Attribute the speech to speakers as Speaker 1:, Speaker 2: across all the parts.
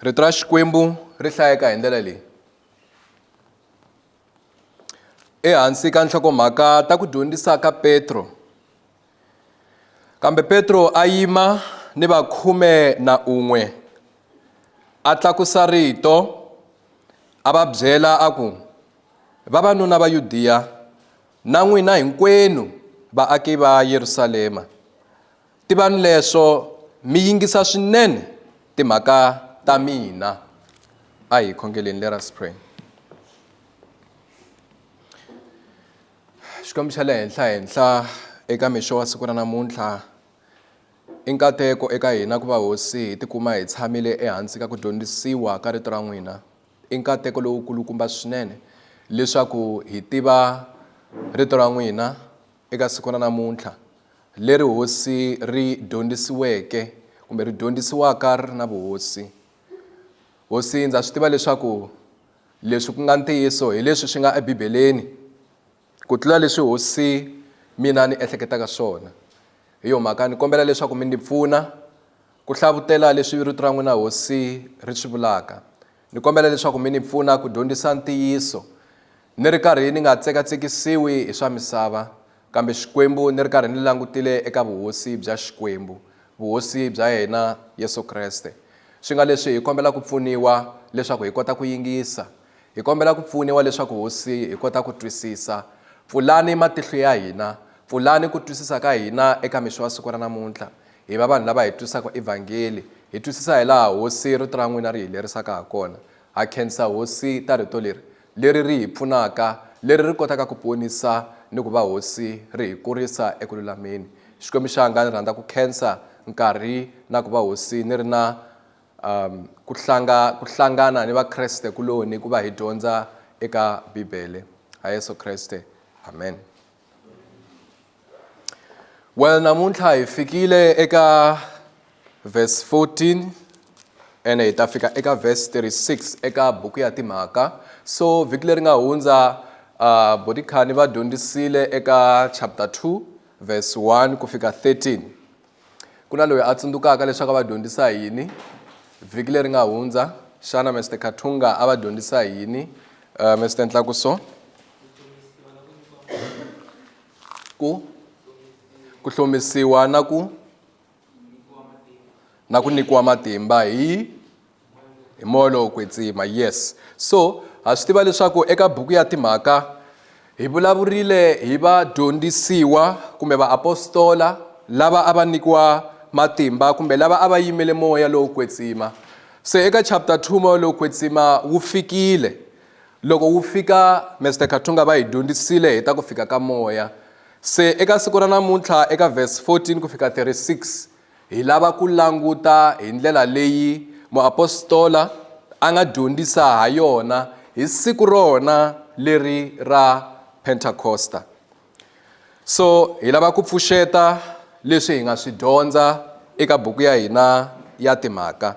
Speaker 1: rito ra xikwembu ri hlayeka hi ndlela leyi ehansi ka nhloko-mhaka ta ku dyondzisa ka petro kambe petro a yima ni vakhume na un'we a tlakusa rito a va byela a ku vavanuna va yudiya Na n'wina hinkwenu vaaki va Yerusalema, tivani leswo mi yingisa swinene timhaka ta mina. A hi khongeleni, let us pray. Xikwembu xa le henhla henhla eka mixo wa siku ra namuntlha i nkateko eka hina ku va hosi hi tikuma hi tshamile ehansi ka ku dyondzisiwa ka rito ra n'wina I nkateko lowu kulukumba swinene leswaku hi tiva Rito ra n'wina eka siku ra namuntlha, leri Hosi ri dyondzisiweke kumbe ri dyondzisiwaka ri ri na vuhosi. Hosi, ndza swi tiva leswaku leswi ku nga ntiyiso hi leswi swi nga eBibeleni ku tlula leswi Hosi mina ni ehleketaka swona. Hi yo mhaka ni kombela leswaku mi ndzi pfuna, Ku hlavutela leswi rito ra n'wina Hosi ri swi vulaka, ni kombela leswaku mi ni pfuna ku dyondzisa ntiyiso ni ri karhi ni nga tsekatsekisiwi hi swa misava, kambe Xikwembu ni ri karhi ni langutile eka vuhosi bya Xikwembu, vuhosi bya yena Yesu Kreste. Swi nga leswi hi kombela ku pfuniwa leswaku hi kota ku yingisa. Hi kombela ku pfuniwa leswaku Hosi hi kota ku twisisa. Pfulani matihlo ya hina. Pfulani ku twisisa ka hina eka mixo wa siku ra namuntlha. Hi va vanhu lava hi twisaka Evhangeli. Hi twisisa hilaha Hosi Rito ra n'wina ri hi lerisaka ha kona. Ha khensa Hosi ta Rito leri, leri ri hi pfunaka, leri ri kotaka ku ponisa ni ku va Hosi ri hi kurisa eku lulameni. Xikwembu xanga ni rhandza ku khensa nkarhi na ku va Hosi ni ri na Um, ku, hlanga, ku hlangana ni Vakreste kuloni ku va hi dyondza eka Bibele. Ha Yesu Kreste. Amen. Well, namuntlha hi fikile eka verse 14 ene hi ta fika eka verse 36 eka buku ya timhaka so vhiki leri nga hundza uh, bodikhani va dyondzisile eka chapter 2 verse 1 ku fika 13 Ku na loyi a tsundzukaka leswaku a va dyondzisa hi yini vhiki leri nga hundza? Xana Mister Kathunga a va dyondzisa hi yini? Uh, Mister Ntlakuso ku ku hlomisiwa na ku na ku nyikiwa matimba hi hi moya lowo kwetsima yes so ha swi tiva leswaku eka buku ya timhaka hi vulavurile hi vadyondzisiwa kumbe vaapostola lava a va nyikiwa matimba kumbe lava a va yimele moya lowo kwetsima se eka chapter 2 moya lowo kwetsima wu fikile loko wu fika mr kathunga va hi dyondzisile hi ta ku fika ka moya se eka siku ra namuntlha eka verse 14 ku fika 36 Hi lava ku languta hi ndlela leyi muapostola a nga dyondzisa ha yona hi siku rona leri ra Pentakosta. So hi lava ku pfuxeta leswi hi nga swi dyondza eka buku ya hina ya timhaka.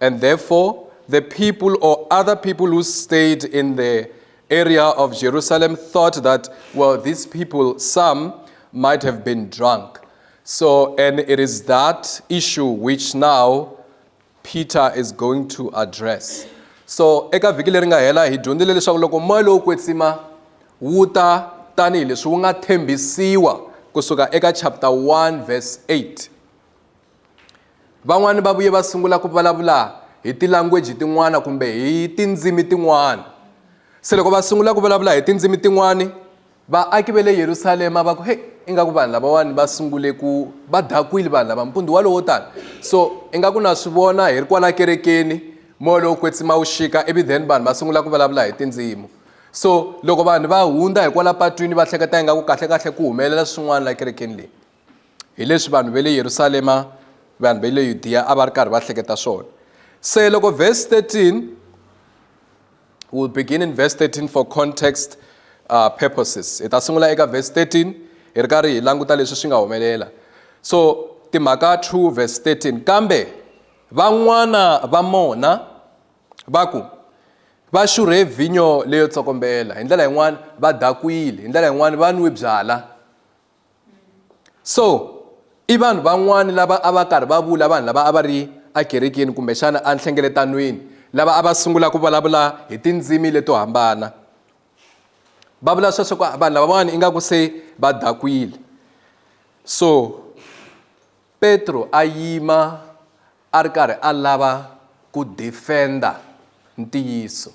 Speaker 1: And therefore, the people or other people who stayed in the area of Jerusalem thought that, well, these people, some might have been drunk. So, and it is that issue which now Peter is going to address. So, eka vhiki leri nga hela hi dyondzile leswaku loko moya lowu kwetsima wu ta tanihileswi wu nga thembisiwa kusuka eka chapter 1 verse 8 Van'wana va vuye va sungula ku vulavula hi tilangweji tin'wana kumbe hi tindzimi tin'wana. Se loko va sungula ku vulavula hi tindzimi tin'wana, vaaki va le Yerusalema va ku, Heyi, ingaku vanhu lavawani va sungule ku va dakwile vanhu lava mpundzu walowo tani. So ingaku na swi vona hi ri kwala kerekeni, moya lowo kwetsima wu xika, ivi then vanhu va sungula ku vulavula hi tindzimi. So loko vanhu va hundza hi kwala patwini va hleketa ingaku kahlekahle ku humelela swin'wana la kerekeni leyi. hi leswi vanhu va le yerusalema vanhu va le yudiya a va ri karhi va hleketa swona se loko verse 13 will begin in verse 13 for context uh, purposes hi ta sungula eka verse 13 hi ri karhi hi languta leswi swi nga humelela so timhaka 2 verse 13 kambe van'wana va mona va ku va xurhe vhinyo leyo tsokombela hi ndlela yin'wana va dakwile hi ndlela yin'wana va nwi byala so i vanhu van'wani lava a va karhi va vula vanhu lava a va ri akerekeni kumbexana enhlengeletanweni lava a va sungula ku vulavula hi tindzimi leto hambana va vula sweswo ku vanhu lavawani ingaku se va dakwile so petro a yima a ri karhi a lava ku defenda ntiyiso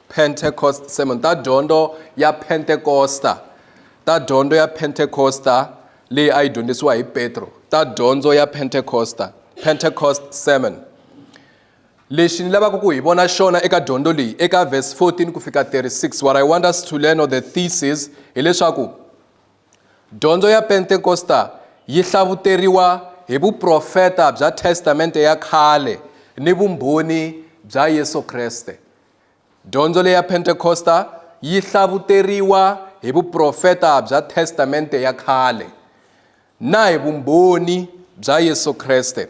Speaker 1: Pentecost Sermon, ta dyondzo ya Pentekosta, ta dyondzo ya Pentekosta leyi a yi dyondzisiwa hi Petro, ta dyondzo ya Pentekosta, Pentecost Sermon. Lexi ni lavaka ku hi vona xona eka dyondzo leyi eka verse 14 ku fika 36, what I want us to learn or the thesis hileswaku dyondzo ya Pentekosta yi hlavuteriwa hi vuprofeta bya Testamente ya khale ni vumbhoni bya Yesu Kreste. Dyondzo leya Pentekosta yi hlavuteriwa hi vuprofeta bya Testamente ya Khale na hi vumbhoni bya Yesu Kreste.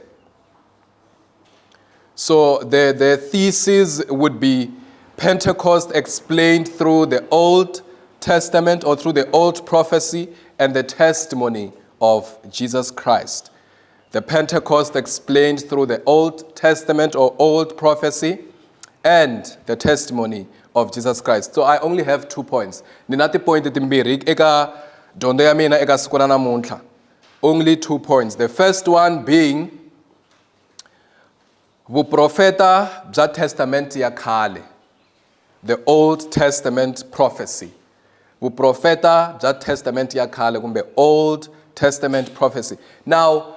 Speaker 1: So the, the thesis would be Pentecost explained through the Old Testament or through the old prophecy and the testimony of Jesus Christ. The Pentecost explained through the Old Testament or Old prophecy and the testimony of Jesus Christ. So I only have two points. Ni na tipointi timbirhi eka dyondzo ya mina eka siku ra namuntlha. Only two points. The first one being Vuprofeta bya Testamente ya Khale, The Old Testament Prophecy, Vuprofeta bya Testamente ya Khale kumbe Old Testament Prophecy. Now,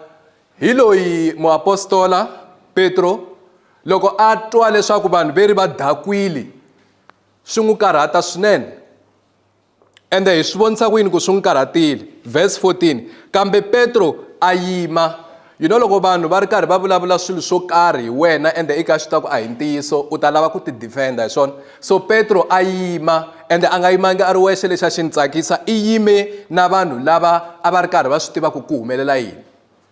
Speaker 1: hi loyi muapostola Petro loko a twa leswaku vanhu veri va dakwile swi n'wi karhata swinene. Ende hi swi vonisa ku yini ku swi n'wi karhatile? Verse 14, Kambe Petro a yima. You know loko vanhu va ri karhi va vulavula swilo swo karhi hi wena ende i ka swi ta ku a hi ntiyiso u ta lava ku ti defenda hi swona so petro a yima ende a nga yimangi a ri wexe lexi a xi ni tsakisa i yime na vanhu lava a va ri karhi va swi tiva ku ku humelela yini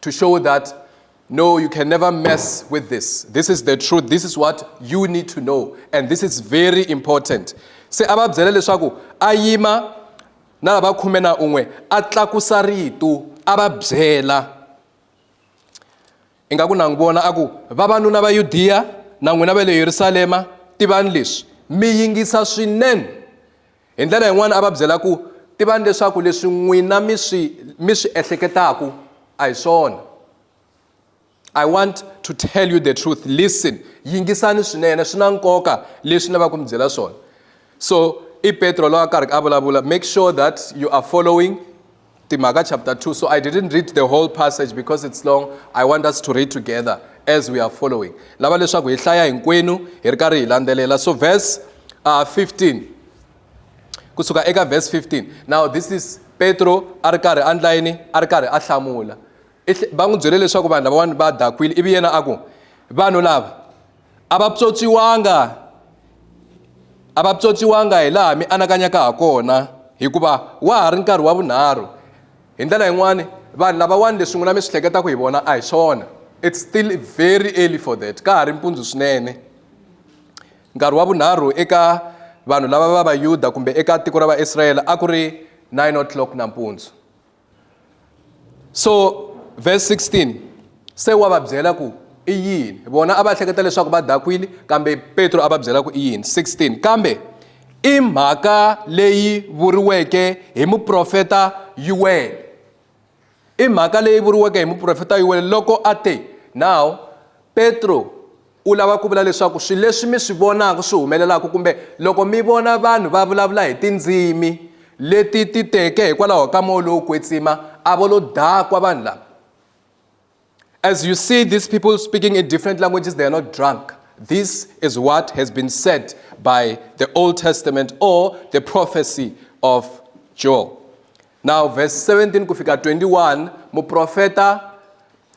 Speaker 1: to show that no, you can never mess with this. This is the truth. This is what you need to know. And this is very important. Se a va byela leswaku a yima na lava khume na un'we a tlakusa rito a va byela ingaku na n'wi vona a ku vavanuna va yudiya na n'wina va le yerusalema tivani leswi mi yingisa swinene Hi ndlela yin'wana a va byela ku, Tivani leswaku leswi n'wina mi swi mi swi ehleketaku a hi swona. I want to tell you the truth. Listen, yingisani swinene, swi na nkoka leswi ni lavaka ku mi byela swona. So i Petro loyi a karhi a vulavula, make sure that you are following Timhaka chapter 2. So I didn't read the whole passage because it's long. I want us to read together as we are following. Lava leswaku hi hlaya hinkwenu hi ri karhi hi landzelela. So verse uh, 15. Kusuka eka verse 15. Now this is Petro a ri karhi andla yini? A ri karhi a hlamula. Va n'wi byele leswaku vanhu lava va dakwile ivi yena a ku vanhu lava a va pyotsiwanga a va pyotsiwanga hi laha mi anakanyaka ha kona hikuva wa ha ri nkarhi wa vunharhu hi ndlela yin'wani vanhu lavawani leswi n'wina mi swi hleketaka hi vona a hi swona it's still very early for that ka ha ri mpundzu swinene nkarhi wa vunharhu eka vanhu lava va vayuda kumbe eka tiko ra vaisrayele a ku ri 9 o'clock nampundzu so verse 16 se wa va byela ku i yini vona a va hleketa leswaku va dakwile kambe petro a va byela ku i yini 16 kambe i mhaka leyi vuriweke hi muprofeta yuwele i mhaka leyi vuriweke hi muprofeta yuwele loko a te now petro U lava ku vula leswaku swilo leswi mi swi vonaka swi humelelaka kumbe loko mi vona vanhu va vulavula hi tindzimi leti ti teke hikwalaho ka moya lowo kwetsima a vo lo dakwa vanhu lava as you see these people speaking in different languages they are not drunk this is what has been said by the old testament or the prophecy of joel Now verse 17 ku fika 21 muprofeta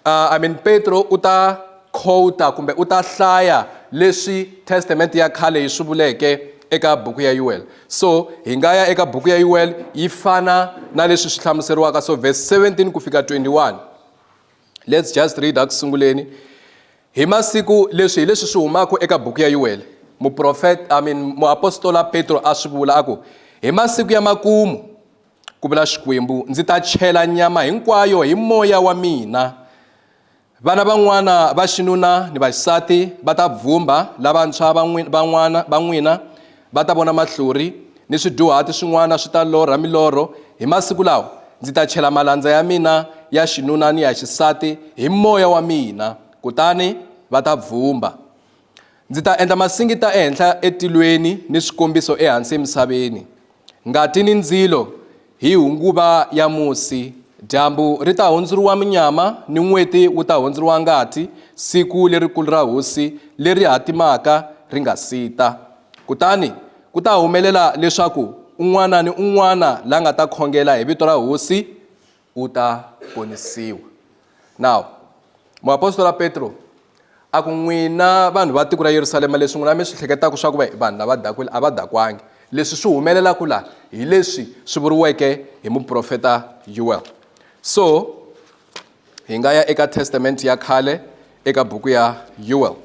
Speaker 1: uh, I mean Petro u ta quota kumbe u ta hlaya leswi testament ya khale yi swi vuleke eka buku ya Yuel so hi nga ya eka buku ya Yuel yi fana na leswi swi hlamuseriwaka so verse 17 ku fika 21 let's just read a ku sunguleni hi masiku leswi hi leswi swi humaka eka buku ya yuwele muprofeta i mean muapostola petro a swi vula a ku hi masiku ya makumu ku vula xikwembu ndzi ta chela nyama hinkwayo hi moya wa mina vana van'wana va xinuna ni vaxisati va ta bvumba lavantshwa va n'wina Va ta vona mahlori ni swidyuhati swin'wana swi ta lorha milorho. Hi masiku lawa ndzi ta chela malandza ya mina ya xinuna ni ya xisati hi moya wa mina, kutani va ta bvumba. Ndzi ta endla masingita ehenhla etilweni ni swikombiso ehansi emisaveni, ngati ni ndzilo. Hi nguva ya musi, dyambu ri ta hundzuriwa munyama ni n'weti wu ta hundzuriwa ngati, siku lerikulu ra hosi leri hatimaka ri nga si ta. Kutani ku ta humelela leswaku un'wana ni un'wana la nga ta khongela hi vito ra hosi u ta ponisiwa. Now, muapostola Petro a ku n'wina vanhu va tiko ra Yerusalema leswi n'wina mi swi hleketaka swa ku va vanhu lava dakwile a va dakwangi leswi swi humelelaka laha hi leswi swi vuriweke hi muprofeta Yuel so hi nga ya eka testament ya khale eka buku ya Yuel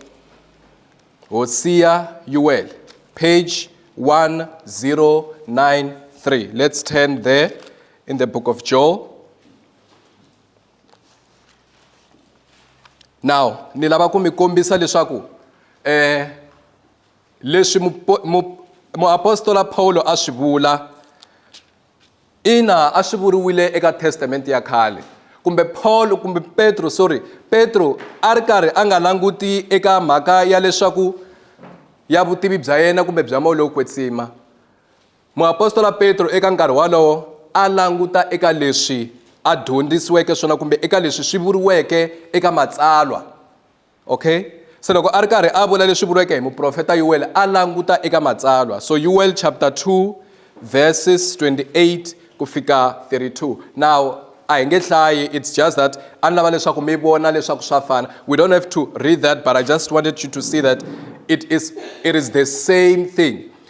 Speaker 1: Hosiya Yuel page 1093 let's turn there in the book of Joel now ni lava ku mi kombisa leswaku eh leswi muapostola Paulo a swi vula ina a swi vuriwile eka testamente ya khale kumbe Paul kumbe Petro sorry Petro a ri karhi a nga languti eka mhaka ya leswaku ya vutivi bya yena kumbe bya moya lowo kwetsima Muapostola Petro eka nkarhi wolowo a languta eka leswi a dyondzisiweke swona kumbe eka leswi swi vuriweke eka Matsalwa. Okay? Se loko a ri karhi a vula leswi vuriweke hi muprofeta Yuwele, a languta eka Matsalwa. So Yuwele chapter 2 verses 28 ku fika 32. Now a hi nge hlayi, it's just that a ni lava leswaku mi vona leswaku swa fana. We don't have to read that but I just wanted you to see that it is, it is the same thing.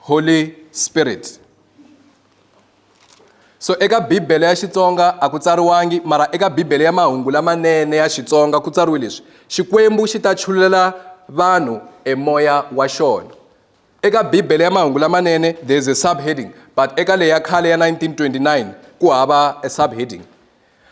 Speaker 1: Holy Spirit so eka bibele ya xitsonga a ku tsariwangi mara eka bibele ya mahungu lamanene ya xitsonga ku tsariwe leswi xikwembu xi ta chululela vanhu emoya wa xona eka bibele ya mahungu lamanene there is a subheading but eka leyi ya khale ya 1929 ku hava a subheading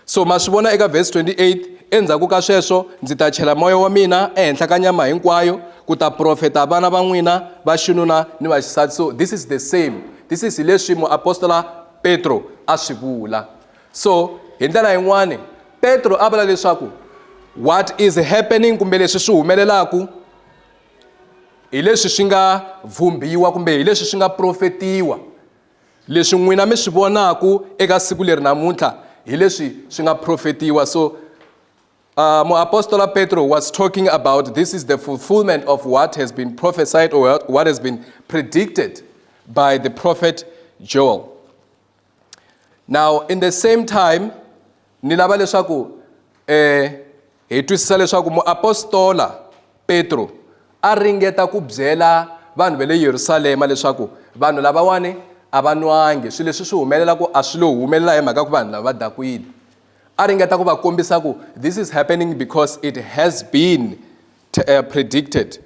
Speaker 1: So ma swi vona eka vhesi 28, Endzhaku ka sweswo ndzi ta chela Moya wa mina ehenhla ka nyama hinkwayo, ku ta profeta vana va n'wina va xinuna ni va xisati. So this is the same, this is hi leswi muapostola Petro a swi vula. So hi ndlela yin'wani Petro a vula leswaku what is happening kumbe leswi swi humelelaku hi leswi swi nga vhumbiwa kumbe hi leswi swi nga profetiwa. Leswi n'wina mi swi vonaku eka siku leri namuntlha hi leswi swi nga profetiwa. So uh, muapostola Petro was talking about this is the fulfillment of what has been prophesied or what has been predicted by the prophet Joel. Now, in the same time, ni lava leswaku um hi twisisa leswaku muapostola petro a ringeta ku byela vanhu va le yerusalema leswaku vanhu lavawani a va nwangi swilo leswi swi humelelaku a swi lo humelela hi mhaka ku vanhu lava va dakwile a ringeta ku va kombisa ku this is happening because it has been eh, predicted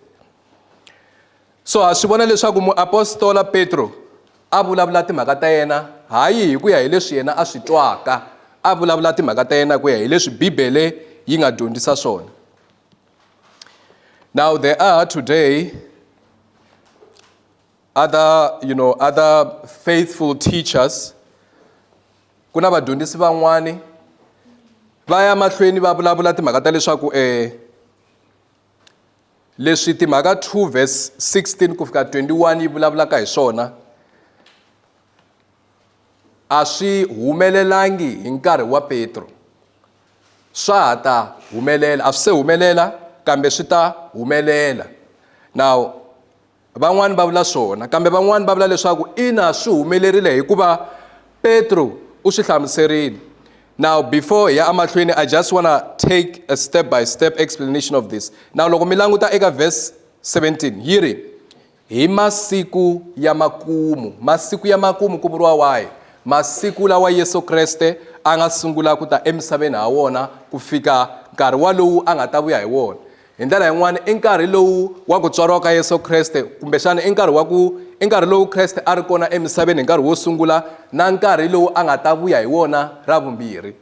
Speaker 1: So ha swi vona leswaku muapostola Petro a vulavula timhaka ta yena hayi hi ku ya hi leswi yena a swi twaka, a vulavula timhaka ta yena ku ya hi leswi Bibele yi nga dyondzisa swona. Now there are today other you know other faithful teachers ku na vadyondzisi van'wani va ya mahlweni va vulavula timhaka ta leswaku eh Leswi timhaka 2 verse 16 ku fika 21 yi vulavulaka hi swona a swi humelelangi hi nkarhi wa Petro swa ha ta humelela a swi se humelela kambe swi ta humelela now Van'wana va vula swona, kambe van'wana va vula leswaku ina swi humelerile hikuva Petro u swi hlamuserile. Now before hi ya amahlweni, I just wanna take a step by step explanation of this. Now loko mi languta eka verse 17 yi ri hi masiku ya makumu. Masiku ya makumu ku vuriwa wahi? Masiku lawa Yesu Kreste a nga sungula ku ta emisaveni ha wona ku fika nkarhi walowu a nga ta vuya hi wona. Hi ndlela yin'wana, i nkarhi lowu wa ku tswariwa ka Yesu Kreste, kumbexana i nkarhi wa ku i nkarhi lowu Kreste a ri kona emisaveni hi nkarhi wo sungula na nkarhi lowu a nga ta vuya hi wona ra vumbirhi.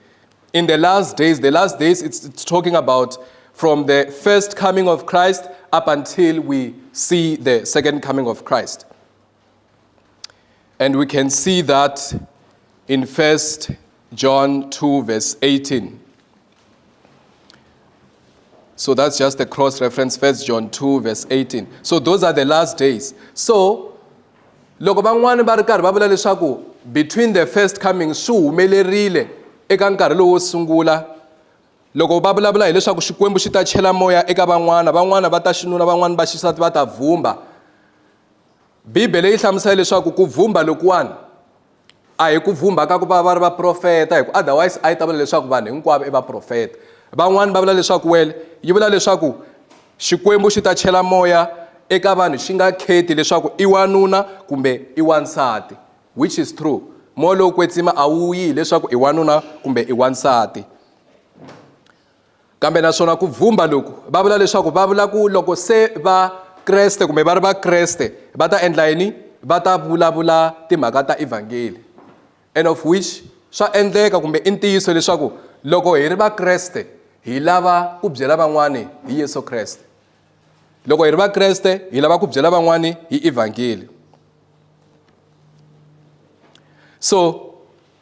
Speaker 1: In the last days, the last days it's, it's talking about from the first coming of Christ up until we see the second coming of Christ. And we can see that in 1 John 2, verse 18. So that's just a cross reference, 1 John 2, verse 18. So those are the last days. So, loko van'wana va ri karhi va vula leswaku between the first coming swi humelerile eka nkarhi lowo sungula loko va vulavula hileswaku xikwembu xi ta chela moya eka van'wana van'wana va ta xinuna van'wana va xisati va ta vhumba Bibele yi hlamusela leswaku ku vhumba lokuwani a hi ku vhumba ka ku va va ri vaprofeta hi ku otherwise a yi ta vula leswaku vanhu hinkwavo i vaprofeta van'wani va vula leswaku wele yi vula leswaku xikwembu xi ta chela moya eka vanhu xi nga kheti leswaku i wanuna kumbe i wansati which is true moya lowu kwetsima a wu yi hileswaku i wanuna kumbe i wansati kambe naswona ku bvumba loku va vula leswaku va vula ku loko se va kreste kumbe va ri vakreste va ta endla yini va ta vulavula timhaka ta evhangeli and of which swa endleka kumbe i ntiyiso leswaku loko hi ri vakreste hi lava ku byela van'wani hi yesu kreste loko hi ri vakreste hi lava ku byela van'wani hi evhangeli so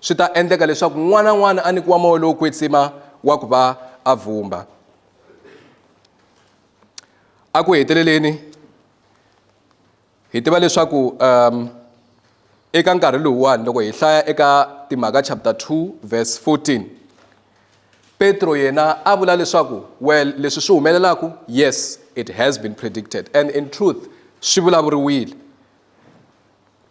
Speaker 1: Swi ta endleka leswaku n'wana na n'wana a nyikiwa moya lowo kwetsima wa ku va a vumba. A ku heteleleni hi tiva leswaku um eka nkarhi lowuwani loko hi hlaya eka timhaka chapter 2 verse 14 petro yena a vula leswaku well leswi swi humelelaka yes it has been predicted and in truth swi vulavuriwile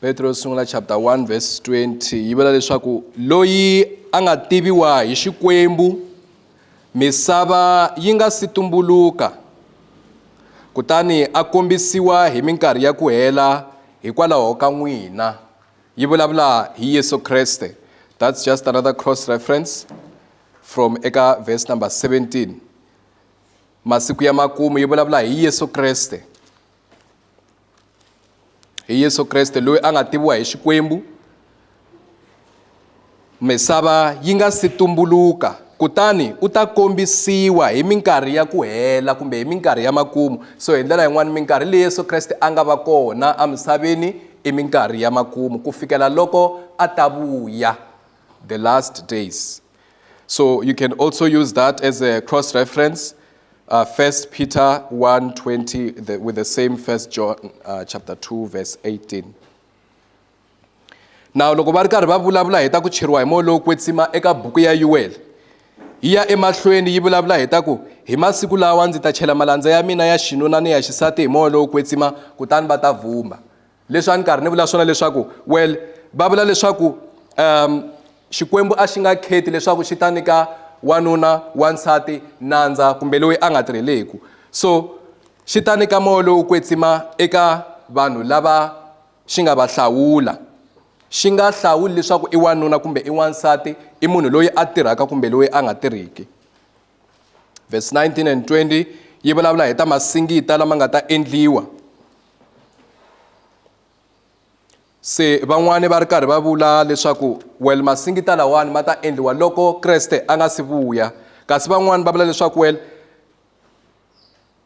Speaker 1: petro yo sungula chapter 1 verse 20 yi vula leswaku loyi a nga tiviwa hi xikwembu misava yi nga si tumbuluka kutani a kombisiwa hi minkarhi ya ku hela hikwalaho ka n'wina yi vulavula hi yesu kreste that's just another cross reference from eka verse number 17 masiku ya makumu yi vulavula hi yesu kreste hi yesu kreste loyi a nga tiviwa hi xikwembu misava yi nga si tumbuluka kutani u ta kombisiwa hi minkarhi ya ku hela kumbe hi minkarhi ya makumu so hi ndlela yin'wana minkarhi leyi yesu kreste a nga va kona emisaveni i minkarhi ya makumu ku fikela loko a ta vuya the last days So you can also use that as a cross reference. Uh, First Peter 1 20, the, with the same First John uh, chapter 2, verse 18. Now, loko va ri karhi va vulavula hi ta ku cheriwa hi moya lowo kwetsima eka buku ya yuwele yi ya emahlweni yi vulavula hi ta ku hi masiku lawa ndzi ta chela malandza ya mina ya xinuna ni ya xisati hi moya lowo kwetsima kutani va ta vumba leswi a ni karhi ni vula swona leswaku well va vula leswaku um xikwembu a xi nga kheti leswaku xi ta nyika wanuna wansati nandza kumbe loyi a nga tirheleku so xi ta nyika moya lowu kwetsima eka vanhu lava xi nga va hlawula xi nga hlawuli leswaku i wanuna kumbe i wansati i munhu loyi a tirhaka kumbe loyi a nga tirhiki verse 19 and 20 yi vulavula hi ta masingita lama nga ta endliwa se van'wani va ri karhi va vula leswaku well masingita lawani ma ta endliwa loko kreste a nga si vuya kasi van'wani va vula leswaku well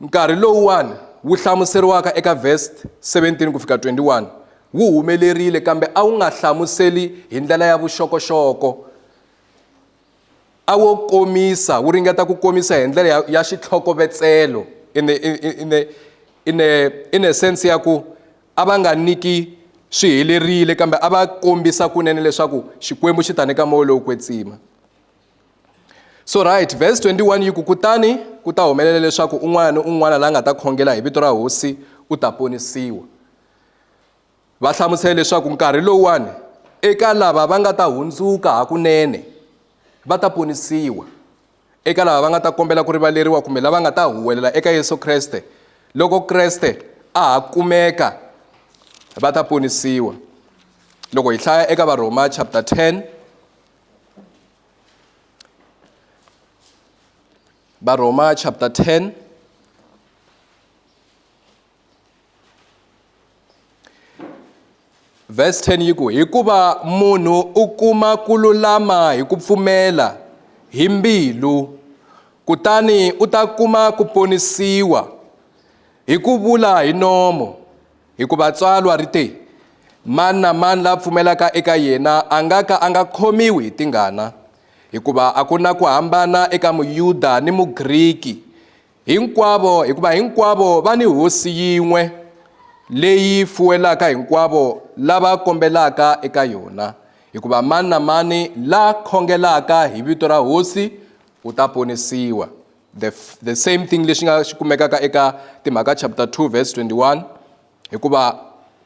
Speaker 1: nkarhi lowuwani wu hlamuseriwaka eka verse 17 ku fika 21 wu humelerile kambe a wu nga hlamuseli hi ndlela ya vuxokoxoko a wo komisa wu ringeta ku komisa hi ndlela ya, ya xitlhokovetselo in the, in, in, the, in, the, in the sense ya ku a va nga niki swi helerile kambe a va kombisa kunene leswaku xikwembu xi ta nyika moya lowu kwetsima so right verse 21 yi ku kutani ku ta humelela leswaku un'wana ni un'wana la nga ta khongela hi vito ra hosi u ta ponisiwa Va hlamusele leswaku nkarhi lowuwani eka lava va nga ta hundzuka hakunene va ta ponisiwa eka lava va nga ta kombela ku rivaleriwa kumbe lava nga ta huwelela eka Yesu Kreste loko Kreste a ha kumeka va ta ponisiwa loko hi hlaya eka varhoma chapter 10 varhoma chapter 10 vhesi 10 yi ku hikuva munhu u kuma ku lulama hi ku pfumela hi mbilu kutani u ta kuma ku ponisiwa hi ku vula hi nomo hikuva tsalwa ri te mani na mani la pfumelaka eka yena a nga ka a nga khomiwi hi tingana hikuva a ku na ku hambana eka muyuda ni mugriki Hinkwavo, hikuva hinkwavo va ni Hosi yin'we leyi fuwelaka hinkwavo lava kombelaka eka yona, hikuva mani na mani la khongelaka hi vito ra Hosi u ta ponisiwa. The, the same thing lexi nga xi kumekaka eka Timhaka chapter 2 verse 21 hikuva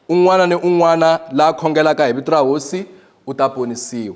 Speaker 1: un'wana ni un'wana la khongelaka hi vito ra Hosi u ta ponisiwa.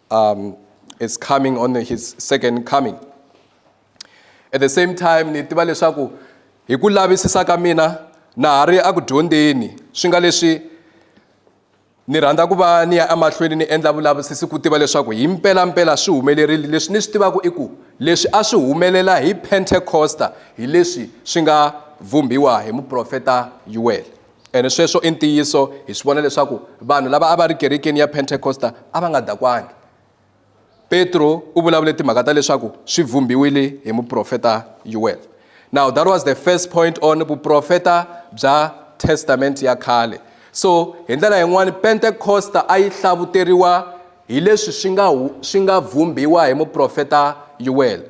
Speaker 1: um, is coming on his second coming at the same time ni tiva leswaku hi ku lavisisa ka mina na ha ri eku dyondzeni swi nga leswi ni rhandza ku va ni ya emahlweni ni endla vulavisisi ku tiva leswaku hi mpelampela swi humelerile leswi ni swi tivaka i ku leswi a swi humelela hi pentecosta hi leswi swi nga vumbiwa hi muprofeta yuwele Ene sweswo i ntiyiso. Hi swi vona leswaku vanhu lava a va ri kerekeni ya Pentekosta a va nga dakwangi. Petro u vulavule timhaka ta leswaku swi vhumbiwile hi muprofeta Yuwele. Now that was the first point on vuprofeta bya Testament ya khale. So hi ndlela yin'wana Pentekosta a yi hlavuteriwa hi leswi swi nga swi nga vhumbiwa hi muprofeta Yuwele.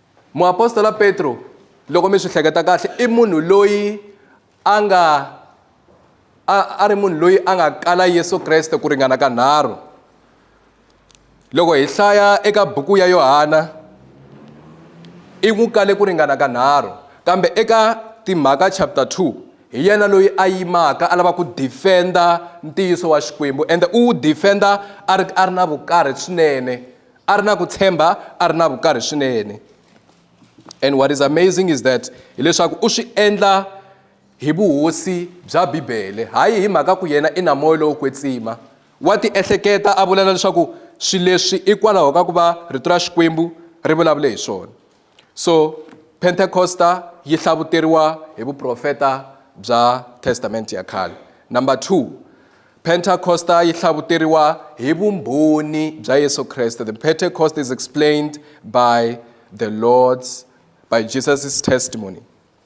Speaker 1: Muapostola Petro, loko mi swi hleketa kahle, i munhu loyi a nga a, a ri munhu loyi a nga kala Yesu Kreste ku ringana ka nharhu. Loko hi hlaya eka buku ya Yohana, i n'wi kale ku ringana ka nharhu, kambe eka timhaka chapter 2 hi yena loyi a yimaka a lava ku defenda ntiyiso wa Xikwembu, ende u wu defenda a ri a ri na vukarhi swinene. a ri na ku tshemba a ri na vukarhi swinene and what is amazing is that hileswaku u swi endla hi vuhosi bya bibele hayi hi mhaka ku yena i na moya lowo kwetsima wa tiehleketa a vula na leswaku swilo leswi i kwalaho ka ku va rito ra xikwembu ri vulavule hi swona So, Pentekosta yi hlavuteriwa hi vuprofeta bya Testamente ya khale. Number two, Pentecosta yi hlavuteriwa hi vumbhoni bya Yesu Kreste. The Pentecost is explained by the Lord's, by Jesus' testimony.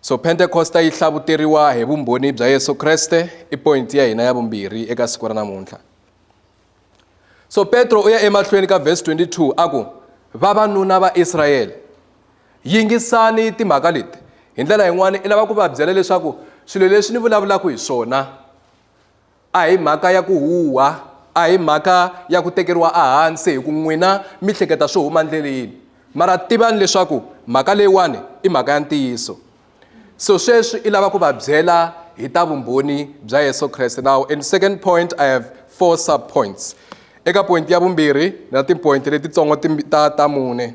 Speaker 1: So Pentekosta yi hlavuteriwa hi vumbhoni bya Yesu Kreste i point ya hina ya vumbirhi eka siku ra namuntlha. So Petro u ya emahlweni ka verse 22 a ku vavanuna va Israyele yingisani timhaka leti hi ndlela yin'wana i lava ku va byela leswaku swilo leswi ni vulavulaka hi swona A hi mhaka ya ku huha, a hi mhaka ya ku tekeriwa ehansi hi ku n'wina mi hleketa swo huma ndleleni. Mara tivani leswaku mhaka leyiwani i mhaka ya ntiyiso. So sweswi i lava ku va byela hi ta vumbhoni bya Yesu Kreste. Now in second point I have four sub points. Eka point ya vumbirhi ni na ti-point letitsongo ta ta mune.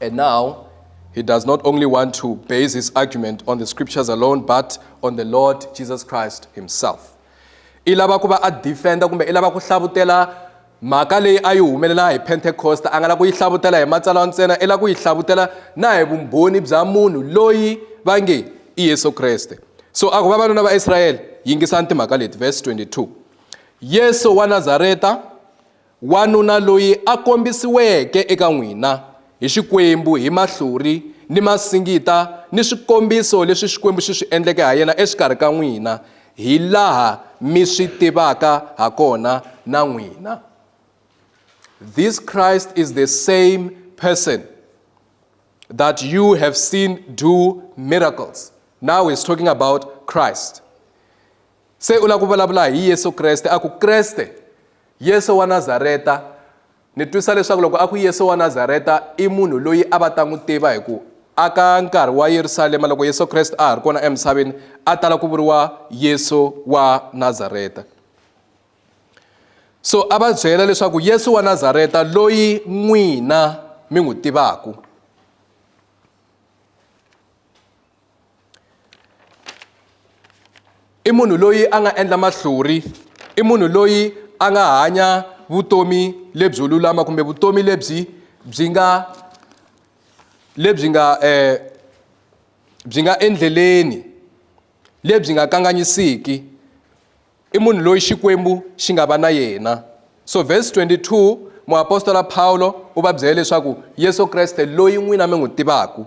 Speaker 1: And now, he does not only want to base his argument on the scriptures alone, but on the Lord Jesus Christ himself. i lava ku va a defenda kumbe i lava ku hlavutela mhaka leyi a yi humelela hi pentecost a nga la ku yi hlavutela hi matsalwa ntsena i la ku yi hlavutela na hi vumbhoni bya munhu loyi va nge i yesu kreste so a ku vavanuna va israyele yingisani timhaka leti verse 22 yesu wa nazareta Wanuna loyi a kombisiweke eka n'wina hi Xikwembu hi mahlori ni masingita ni swikombiso leswi Xikwembu xi swi endleke ha yena exikarhi ka n'wina, hi laha mi swi tivaka ha kona na n'wina. This Christ is the same person that you have seen do miracles. Now he's talking about Christ. Se u lava ku vulavula hi Yesu Kreste, a ku Kreste Yesu wa Nazareta, ni twisa leswaku loko a ku Yesu wa Nazareta i munhu loyi a va ta n'wi tiva hi ku aka nkarhi wa Yerusalema loko Yesu Kreste a ha ri kona emisaveni a tala ku vuriwa Yesu wa Nazareta. So a va byela leswaku Yesu wa Nazareta loyi n'wina mi n'wi tivaku. i munhu loyi a nga endla mahluri i munhu loyi a nga hanya vutomi lebyo lulama kumbe vutomi lebyi byi nga lebyi nga um byi nga endleleni lebyi nga kanganyisiki i munhu loyi xikwembu xi nga va na yena so verse 22 muapostola Pawulo u va byele leswaku Yesu Kreste loyi n'wina mi n'wi tivaku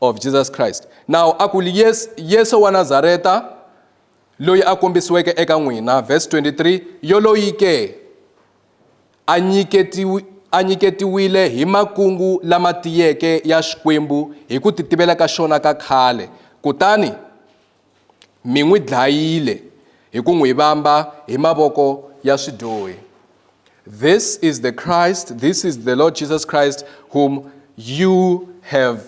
Speaker 1: of Jesus Christ. Now a ku yes, Yesu wa Nazareta loyi a kombisiweke eka n'wina verse 23 yoloyi ke a nyiketiwi a nyiketiwile hi makungu lama tiyeke ya Xikwembu hi ku titivela ka xona ka khale kutani mi n'wi dlayile hi ku n'wi vamba hi mavoko ya swidyohi this is the christ this is the lord jesus christ whom you have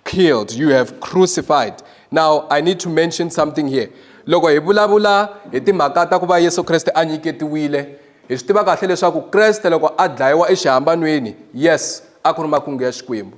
Speaker 1: killed you have crucified now i need to mention something here loko hi vulavula hi timhaka ta ku va yesu kreste a nyiketiwile hi swi tiva kahle leswaku kreste loko a dlayiwa exihambanweni yes a ku ri makungu ya xikwembu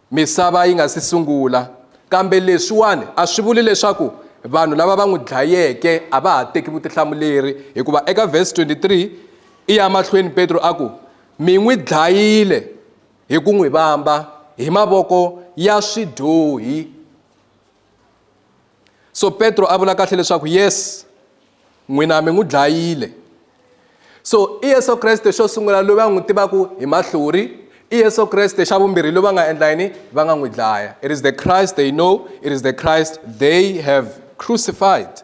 Speaker 1: misava yi nga si sungula. Kambe leswiwani a swi vuli leswaku vanhu lava va n'wi dlayeke a va ha teki vutihlamuleri, hikuva eka vhesi 23 i ya mahlweni Petro a ku, Mi n'wi dlayile hi ku n'wi vamba hi mavoko ya swidyohi. so petro a vula kahle leswaku yes n'wina mi n'wi dlayile so i yesu kreste xo sungula loyi va n'wi tivaka hi mahlori i yesu kreste xa vumbirhi loyi va nga endla yini va nga n'wi dlaya it is the christ they know it is the christ they have crucified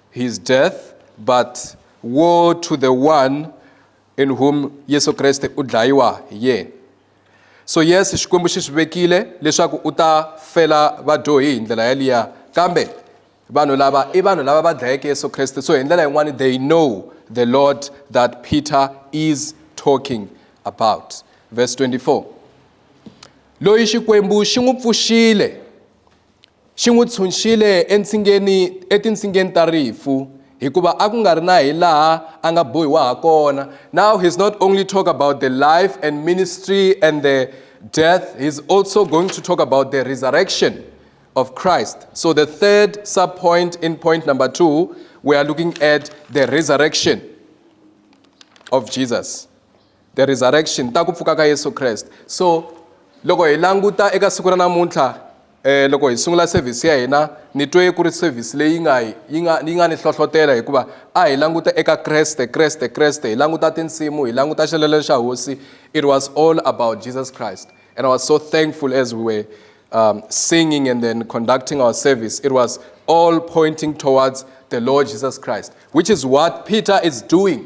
Speaker 1: his death but woe to the one in whom yesu kreste u dlayiwa hi yena so yes xikwembu xi swi vekile leswaku u ta fela vadyohi hi ndlela yaliya kambe vanhu lava i vanhu lava va dlayeke yesu kreste so hi ndlela yin'wana they know the lord that peter is talking about verse 24 loyi xikwembu xi n'wi pfuxile Xi n'wi tshunxile entshingeni etintsingeni ta rifu hikuva a ku nga ri na hi laha a nga bohiwa ha kona. Now he's not only talk about the life and ministry and the death, he's also going to talk about the resurrection of Christ. So the third sub-point in point number two, we are looking at the resurrection of Jesus. the resurrection ta ku pfuka ka yesu kreste so loko hi languta eka siku ra namuntlha um loko hi sungula sevhisi ya hina ni twe ku ri sevhisi leyi nga yi nga yi nga ni hlohlotela hikuva a hi languta eka kreste kreste kreste hi languta tinsimu hi languta xilelo xa hosi it was all about jesus christ and i was so thankful as we were um, singing and then conducting our service it was all pointing towards the lord jesus christ which is what peter is doing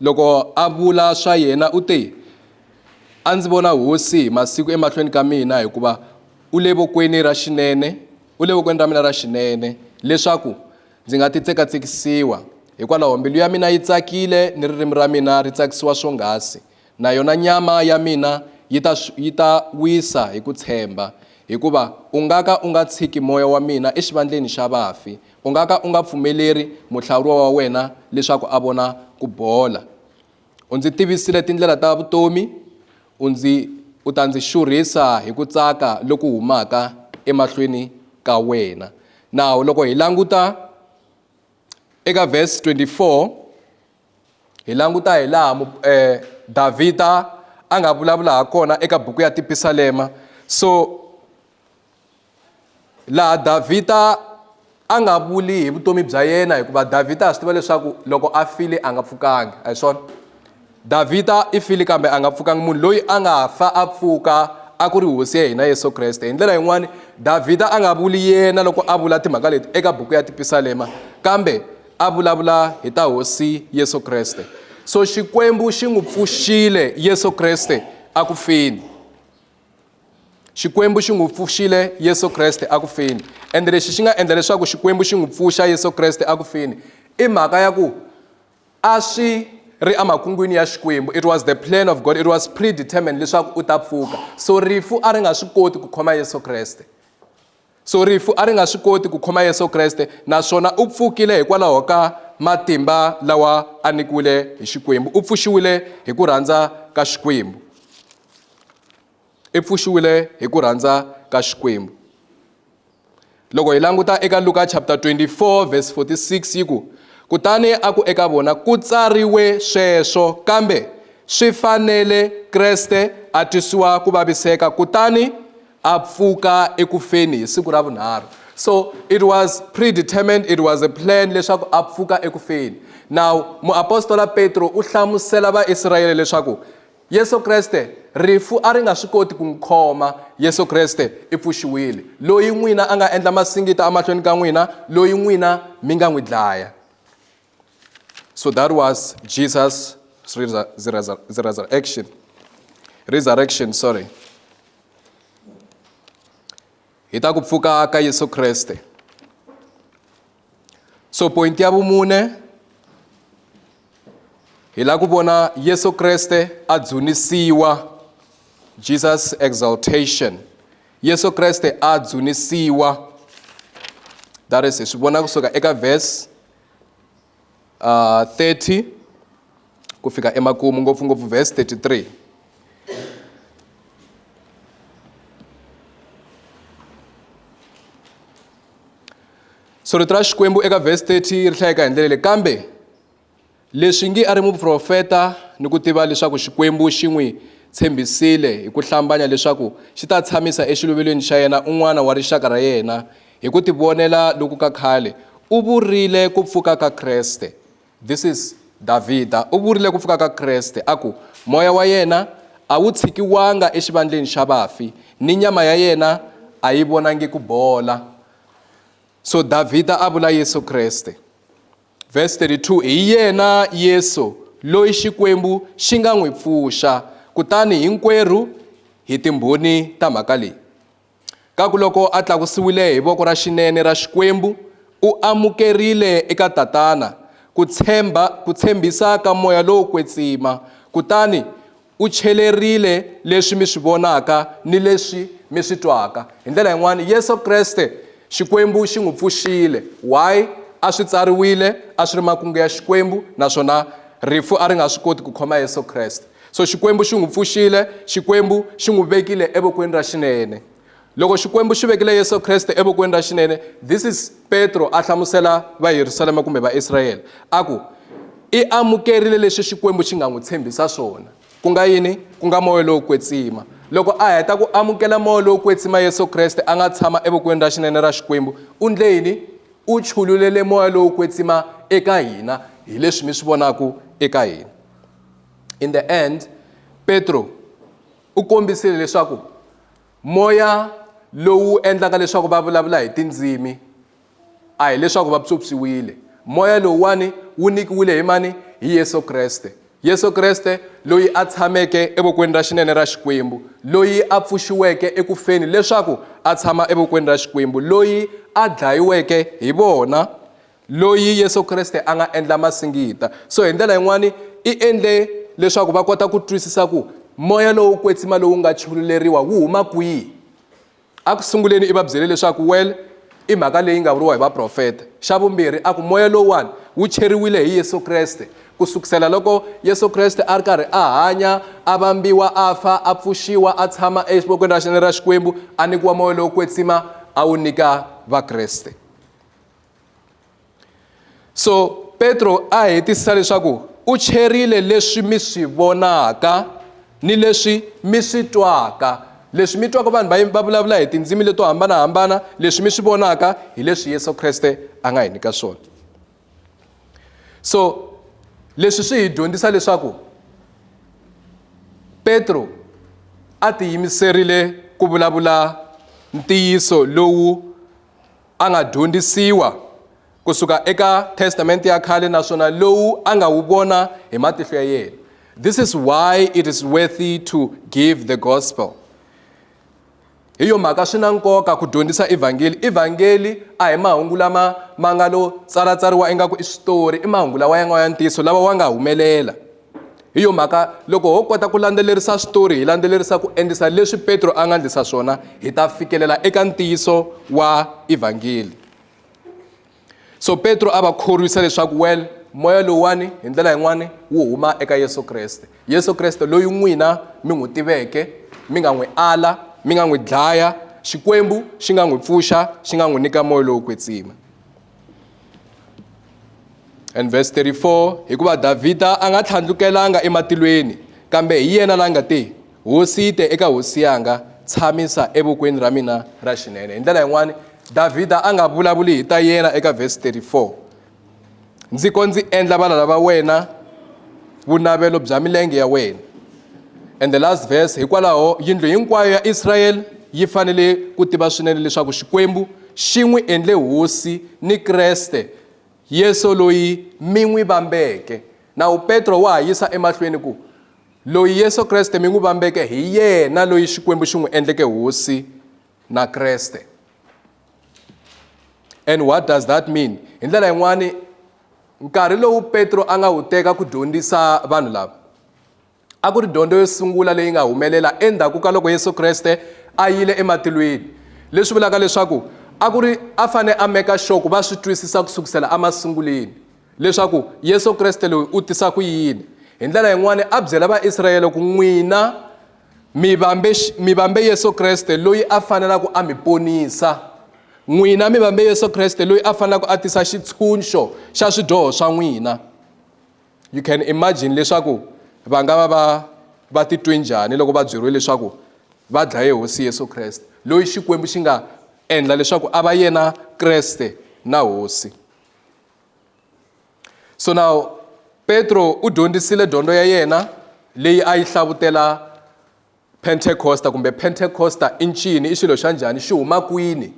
Speaker 1: Loko a vula swa yena u te, A ndzi vona Hosi hi masiku emahlweni ka mina, hikuva u le vokweni ra xinene, u le vokweni ra mina ra xinene, leswaku ndzi nga ti tsekatsekisiwa. Hikwalaho mbilu ya mina yi tsakile ni ririmi ra mina ri tsakisiwa swonghasi, na yona nyama ya mina yi ta yi ta wisa hi ku tshemba, hikuva u nga ka u nga tshiki moya wa mina exivandleni xa vafi, U nga ka u nga pfumeleri muhlawuriwa wa wena leswaku a vona ku bola. U ndzi tivisile tindlela ta vutomi, u ndzi u ta ndzi xurhisa hi ku tsaka loku humaka emahlweni ka wena. Nawu loko hi languta eka verse 24 hi languta hi laha eh, Davhida a nga vulavula ha kona eka buku ya tipisalema so laha davhida a nga vuli hi vutomi bya yena hikuva davhida a swi tiva leswaku loko a file a nga pfukangi a hi swona davhida i file kambe a nga pfukangi munhu loyi a nga fa a pfuka a ku ri hosi ya hina yesu kreste hi ndlela yin'wani davhida a nga vuli yena loko a vula timhaka leti eka buku ya tipisalema kambe a vulavula hi ta hosi yesu kreste so xikwembu xi n'wi pfuxile yesu kreste a ku fini xikwembu xi n'wi pfuxile yesu kreste aku feni ende lexi xi nga endla leswaku xikwembu xi n'wi pfuxa yesu kreste aku feni i mhaka ya ku a swi ri emakungwini ya xikwembu it was the plan of god it was predetermined leswaku u ta pfuka so rifu a ri nga swi koti ku khoma yesu kreste So rifu a ri nga swi koti ku khoma Yesu Kreste naswona u pfukile hikwalaho ka matimba lawa a nikiwile hi Xikwembu. U pfuxiwile hi ku rhandza ka Xikwembu. I pfuxiwile hi ku rhandza ka Xikwembu. Loko hi languta eka Luka chapter 24 verse 46 yi ku kutani a ku eka vona ku tsariwe sweswo kambe swi fanele Kreste a twisiwa ku vaviseka kutani a pfuka eku feni hi siku ra vunharhu so it was predetermined it was a plan leswaku a pfuka eku feni now muapostola petro u hlamusela vaisrayele leswaku yesu kreste rifu a ri nga swi koti ku n'wi khoma yesu kreste i pfuxiwile loyi n'wina a nga endla masingita emahlweni ka n'wina loyi n'wina mi nga n'wi dlaya So that was Jesus' resurrection. Resurrection, sorry. Hi ta ku pfuka ka Yesu Kreste. So point ya vumune hi la ku vona Yesu Kreste a dzunisiwa Jesus exaltation. Yesu Kreste a dzunisiwa. That is hi swi vona kusuka eka verse 30 ku fika emakumu ngopfungopfu verse 33 so rito ra xikwembu eka verse 30 ri hlayeka hi ndlela leyi kambe leswi ngi a ri muprofeta ni ku tiva leswaku xikwembu xi n'wi tshembisile hi ku hlambanya leswaku xi ta tshamisa exiluvelweni xa yena un'wana wa rixaka ra yena Hi ku tivonela loku ka khale, u vurile ku pfuka ka Kreste. This is Davhida u vurile ku pfuka ka Kreste a ku, Moya wa yena a wu tshikiwanga exivandleni xa vafi, ni nyama ya yena a yi vonangi ku bola. So Davhida a vula Yesu Kreste. Verse 32, Hi yena Yesu loyi Xikwembu xi nga n'wi pfuxa, kutani hinkwerhu hi timbhoni ta mhaka leyi. ka ku loko a tlakusiwile hi voko ra xinene ra Xikwembu, u amukerile eka Tatana ku tshemba ku tshembisa ka moya lowo kwetsima kutani u chelerile leswi mi swi vonaka ni leswi mi swi twaka. Hi ndlela yin'wana, Yesu Kreste, Xikwembu xi n'wi pfuxile. Why? A swi tsariwile, a swi ri makungu ya Xikwembu naswona rifu a ri nga swi koti ku khoma Yesu Kreste. So Xikwembu xi n'wi pfuxile, Xikwembu xi n'wi vekile evokweni ra xinene. Loko Xikwembu xi vekile Yesu Kreste evokweni ra xinene, this is Petro a hlamusela va Yerusalema kumbe va Israyele, a ku, I amukerile leswi Xikwembu xi nga n'wi tshembisa swona. Ku nga yini? Ku nga moya lowo kwetsima. Loko a heta ku amukela moya lowo kwetsima Yesu Kreste a nga tshama evokweni ra xinene ra Xikwembu, u ndle yini? U chululele moya lowo kwetsima eka hina, hi leswi mi swi vonaka eka hina. in the end petro u kombisile leswaku moya lowu endlaka leswaku va vulavula hi tindzimi a hileswaku va psopsiwile moya lowuwani wu nyikiwile hi mani hi yesu kreste yesu kreste loyi a tshameke evokweni ra xinene ra xikwembu loyi a pfuxiweke ekufeni leswaku a tshama evokweni ra xikwembu loyi a dlayiweke hi vona loyi Yesu Kriste a nga endla masingita. So hi ndlela yin'wana i endle leswaku va kota ku twisisa ku moya lowo kwetsima lowu nga chululeriwa wu huma kwihi. A ku sunguleni i va byele leswaku well i mhaka leyi nga vuriwa hi vaprofeta. Xa vumbirhi a ku moya lowuwani wu cheriwile hi Yesu Kreste ku sukusela loko Yesu Kreste a ri karhi a hanya a vambiwa a fa a pfuxiwa a tshama exivokweni ra xinene ra Xikwembu a nyikiwa moya lowo kwetsima a wu nyika Vakreste. so petro a hetisisa leswaku u cherile leswi mi swi vonaka ni leswi mi swi twaka leswi mi twaka vanhu va va vulavula hi tindzimi leto hambanahambana leswi mi swi vonaka hi leswi yesu kreste a nga hi nyika swona so leswi swi hi dyondzisa leswaku petro a tiyimiserile ku vulavula ntiyiso lowu a nga dyondzisiwa ku suka eka testamente ya khale naswona lowu a nga wu vona hi matihlo ya yena this is why it is worthy to give the gospel hi yo mhaka swi na nkoka ku dyondzisa evhangeli evhangeli a hi mahungu lama ma nga lo tsalatsariwa ingaku i switori i mahungu lawa ya nga ya ntiyiso lawa wa nga humelela hi yo mhaka loko ho kota ku landzelerisa switori hi landzelerisa ku endlisa leswi petro a nga endlisa swona hi ta fikelela eka ntiyiso wa evhangeli so petro a va khorwisa leswaku well moya lowuwani hi ndlela yin'wani wu huma eka yesu kreste yesu kreste loyi n'wina mi n'wi tiveke mi nga n'wi ala mi nga n'wi dlaya xikwembu xi nga n'wi pfuxa xi nga n'wi nyika moya lowo kwetsima and verse 34 hikuva davhida a nga tlhandlukelanga ematilweni kambe hi yena la nga te hosi te eka hosi yanga tshamisa evokweni ra mina ra xinene hi ndlela yin'wani davhida a nga vulavuli hi ta yena eka verse 34 ndzi ko ndzi endla valala va wena vunavelo bya milenge ya wena And the last verse, hikwalaho yindlu hinkwayo ya Israel yi fanele ku tiva swinene leswaku Xikwembu xi n'wi endle hosi ni Kreste Yesu loyi mi n'wi vambeke. Nawu Petro wa ha yisa emahlweni ku, Loyi Yesu Kreste mi n'wi vambeke hi yena loyi Xikwembu xi n'wi endleke hosi na Kreste. And what does that mean? Hi ndlela yin'wani nkarhi lowu Petro a nga wu teka ku dyondzisa vanhu lava a ku ri dyondzo yo sungula leyi nga humelela endzhaku ka loko yesu kreste a yile ematilweni leswi vulaka leswaku a ku ri a fane a meka sure ku va swi twisisa ku sukusela emasunguleni leswaku yesu kreste loyi u tisa ku yini hi ndlela yin'wana a byela vaisrayele ku n'wina mi vambe mi vambe yesu kreste loyi a fanelaka a mi ponisa n'wina mi vambe yesu kreste loyi a fanelaka a tisa xitshunxo xa swidyoho swa n'wina you can imagine leswaku va nga va va va titwe njhani loko va byeriwe leswaku va dlaye hosi yesu kreste loyi xikwembu xi nga endla leswaku a va yena kreste na hosi so now petro u dyondzisile dyondzo ya yena leyi a yi hlavutela Pentecosta kumbe Pentecosta i ncini? I xilo xa njhani? Xi huma kwini?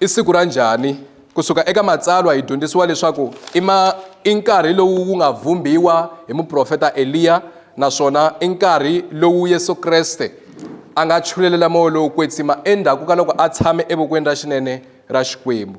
Speaker 1: I siku ra njhani? Ku suka eka Matsalwa hi dyondzisiwa leswaku i ma i nkarhi lowu wu nga vhumbiwa hi muprofeta Eliya naswona i nkarhi lowu Yesu Kreste a nga chulelela moya lowo kwetsima endzhaku ka loko a tshame evokweni ra xinene ra Xikwembu.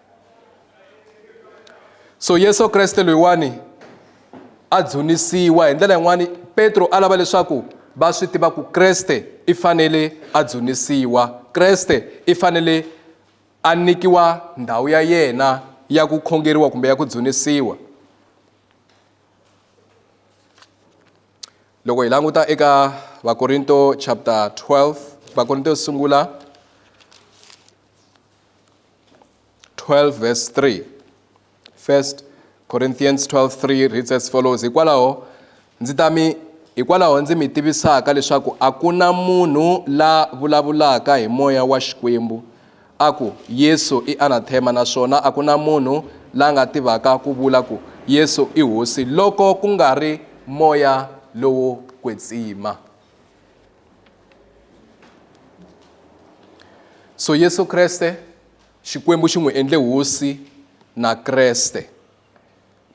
Speaker 1: so yesu kreste loyiwani a dzunisiwa hi ndlela yin'wani petro a lava leswaku va swi tiva ku kreste i fanele a dzunisiwa kreste i fanele a nyikiwa ndhawu ya yena ya ku khongeriwa kumbe ya ku dzunisiwa loko hi languta eka vakorinto chapter 12 vakorinto yo sungula 12 verse 3 first corinthians 12 3 reads as follows hikwalaho ndzi ta mi hikwalaho ndzi mi tivisaka leswaku a ku na munhu la vulavulaka hi moya wa xikwembu a ku yesu i anathema naswona a ku na munhu la nga tivaka ku vula ku yesu i hosi loko ku nga ri moya lowo kwetsima so yesu kreste xikwembu xi n'wi endle hosi na kreste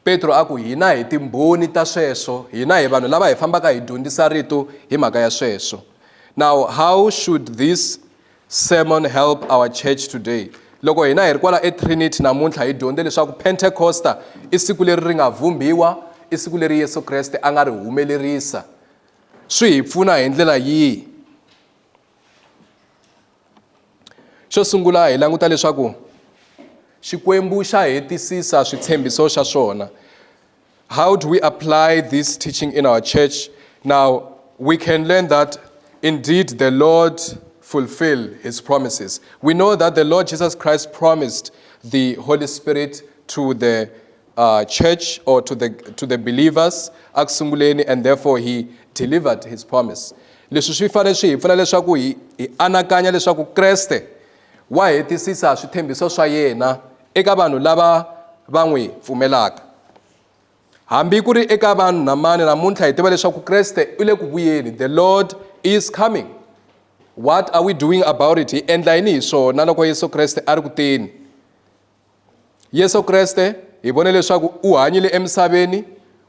Speaker 1: petro a ku hina hi timbhoni ta sweswo hina hi vanhu lava hi fambaka hi dyondzisa rito hi mhaka ya sweswo now how should this sermon help our church today loko hina hi ri kwala etrinity namuntlha hi dyondze leswaku pentecosta i siku leri ri nga vhumbhiwa i siku leri yesu kreste a nga ri humelerisa swi hi pfuna hi ndlela yihi xo sungula hi languta leswaku xikwembu xa hetisisa switshembiso xa swona how do we apply this teaching in our church now we can learn that indeed the lord fulfill his promises we know that the lord jesus christ promised the holy spirit to the uh, church or to the, to the believers eku sunguleni and therefore he delivered his promise leswi swi fanele swi hi pfuna leswaku hi hi anakanya leswaku kreste wa hetisisa swithembiso swa yena eka vanhu lava va n'wi pfumelaka hambi ku ri eka vanhu na mani namuntlha hi tiva leswaku kreste u le ku vuyeni the lord is coming what are we doing about it hi endla yini hi swona loko yesu kreste a ri ku teni Yesu Kreste hi vone leswaku u hanyile emisaveni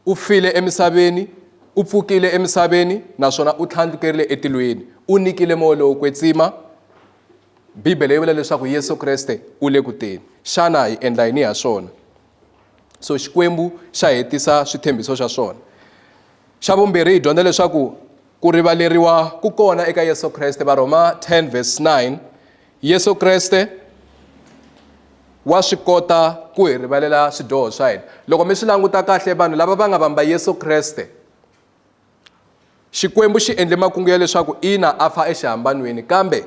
Speaker 1: u file emisaveni u pfukile emisaveni naswona u tlhandlukerile etilweni u nikile moya lowo kwetsima bibele yi vula leswaku yesu kreste u le ku teni xana hi endla yini ha swona so xikwembu xa hetisa switshembiso xa swona xa vumbirhi hi dyondza leswaku ku rivaleriwa ku kona eka yesu kreste varhoma 10 verse 9 Yesu Kreste wa swi kota ku hi rivalela swidyoho swa hina loko mi swi languta kahle vanhu lava va nga vamba Yesu Kreste xikwembu xi endle makungu ya leswaku ina a fa exihambanweni kambe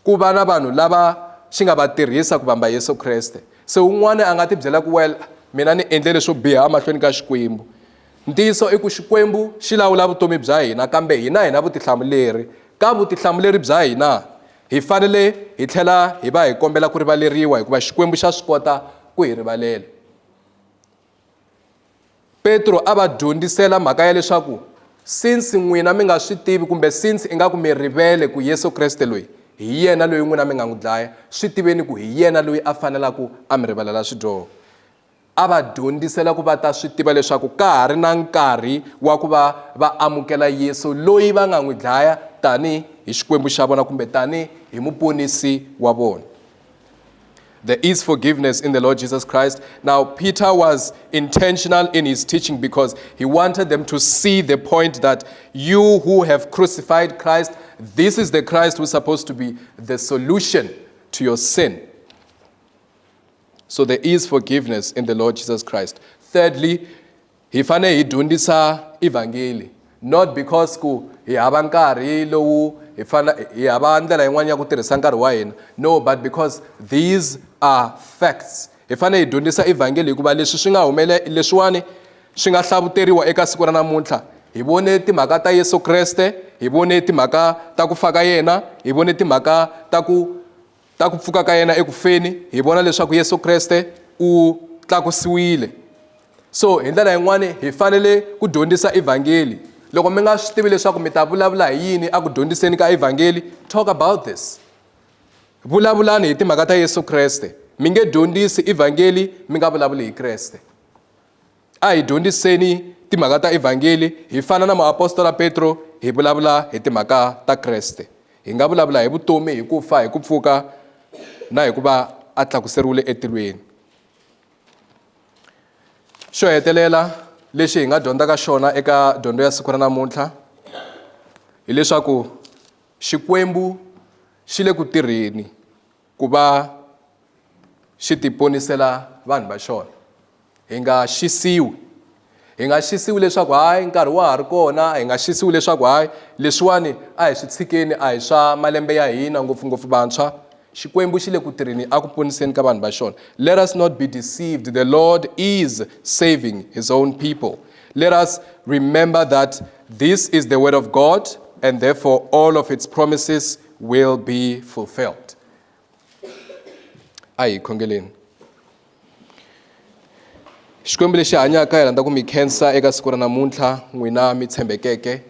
Speaker 1: ku va na vanhu lava xi nga va tirhisa ku vamba Yesu Kreste se un'wana a nga ti byela ku well mina ni endle leswo biha emahlweni ka xikwembu ntiyiso i ku xikwembu xi lawula vutomi bya hina kambe hina hina vutihlamuleri ka vutihlamuleri bya hina Hi fanele hi tlhela hi va hi kombela ku rivaleriwa hikuva Xikwembu xa swi kota ku hi rivalela. Petro a va dyondzisela mhaka ya leswaku since n'wina mi nga swi tivi kumbe since ingaku mi rivele ku Yesu Kreste loyi hi yena loyi n'wina mi nga n'wi dlaya swi tiveni ku hi yena loyi a fanelaka a mi rivalela swidyoho A va dyondzisela ku va ta swi tiva leswaku ka ha ri na nkarhi wa ku va va amukela Yesu loyi va nga n'wi dlaya tani hi Xikwembu xa vona kumbe tani hi muponisi wa vona. There is forgiveness in the Lord Jesus Christ. Now, Peter was intentional in his teaching because he wanted them to see the point that you who have crucified Christ, this is the Christ who's supposed to be the solution to your sin. so there is forgiveness in the lord jesus christ thirdly hi fanele hi dyondzisa evhangeli not because ku hi hava nkarhi lowu hi fana hi hava ndlela yin'wana ya ku tirhisa nkarhi wa hina no but because these are facts hi fanele hi dyondzisa evhangeli hikuva leswi swi nga humele leswiwani swi nga hlavuteriwa eka siku ra namuntlha hi vone timhaka ta yesu kreste hi vone timhaka ta ku fa ka yena hi vone timhaka ta ku Ta ku pfuka ka yena eku feni hi vona leswaku Yesu Kreste u tlakusiwile. So hi ndlela yin'wana hi fanele ku dyondzisa evhangeli. Loko mi nga swi tivi leswaku mi ta vulavula hi yini a ku dyondziseni ka evhangeli, talk about this. Vulavulani hi timhaka ta Yesu Kreste. Mi nge dyondzisi evhangeli mi nga vulavuli hi Kreste. A hi dyondziseni timhaka ta Evhangeli hi fana na muapostola Petro hi vulavula hi timhaka ta Kreste. Hi nga vulavula hi vutomi, hi ku fa, hi ku pfuka na hi ku va a tlakuseriwile etilweni. Xo hetelela lexi hi nga dyondzaka xona eka dyondzo ya siku ra namuntlha hileswaku Xikwembu xi le ku tirheni. Ku va xi tiponisela vanhu va xona, hi nga xisiwi. Hi nga xisiwi leswaku hayi nkarhi wa ha ri kona, hi nga xisiwi leswaku hayi leswiwani a hi swi tshikeni a hi swa malembe ya hina ngopfungopfu vantshwa. Xikwembu xi le ku tirheni a ku poniseni ka vanhu va xona. Let us not be deceived, the Lord is saving his own people. Let us remember that this is the word of God and therefore all of its promises will be fulfilled. A hi khongeleni. Xikwembu lexi hanyaka hi rhandza ku mi khensa eka siku ra namuntlha n'wina mi tshembekeke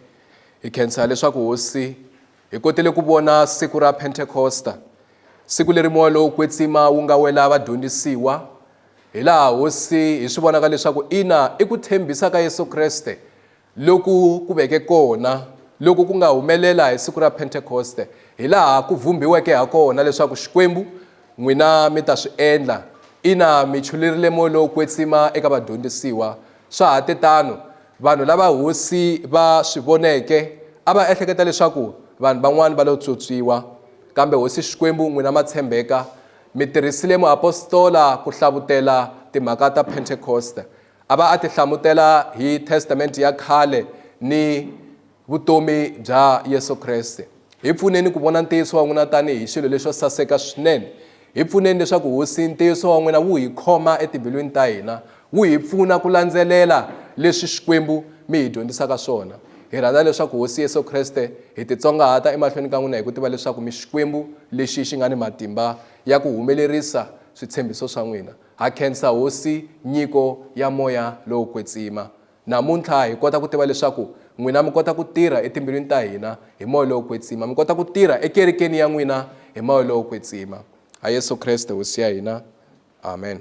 Speaker 1: hi khensa leswaku hosi hi kotele ku vona siku ra pentekosta siku leri moya lowo kwetsima wu nga wela vadyondzisiwa hi laha hosi hi swi vonaka leswaku ina i ku tshembisa ka yesu kreste Loku ku veke kona loku ku nga humelela hi siku ra Pentekoste, hi laha ku vhumbhiweke ha kona leswaku Xikwembu, n'wina mi ta swi endla. Ina, mi chulurile moya lowo kwetsima eka vadyondzisiwa. Swa ha te tano. Vanhu lava Hosi va swi voneke a va ehleketa leswaku vanhu van'wana va lo pyopyiwa. Kambe Hosi Xikwembu, n'wina ma tshembeka, mi tirhisile muapostola ku hlavutela timhaka ta Pentekoste. A va a ti hlamutela hi Testamente ya khale ni vutomi bya Yesu Kreste. Hi pfuneni ku vona ntiyiso wa n'wina tanihi xilo lexo saseka swinene. Hi pfuneni leswaku Hosi, ntiyiso wa n'wina wu hi khoma etimbilwini ta hina, wu hi pfuna ku landzelela leswi Xikwembu mi hi dyondzisaka swona. Hi rhandza leswaku Hosi Yesu Kreste, hi titsongahata emahlweni ka n'wina hi ku tiva leswaku mi Xikwembu lexi xi nga ni matimba ya ku humelerisa switshembiso swa n'wina. Ha khensa Hosi nyiko ya moya lowo kwetsima. Namuntlha hi kota ku tiva leswaku n'wina mi kota ku tirha etimbilwini ta hina hi moya lowo kwetsima, mi kota ku tirha ekerekeni ya n'wina hi moya lowo kwetsima. Ha Yesu Kreste Hosi ya hina. Amen.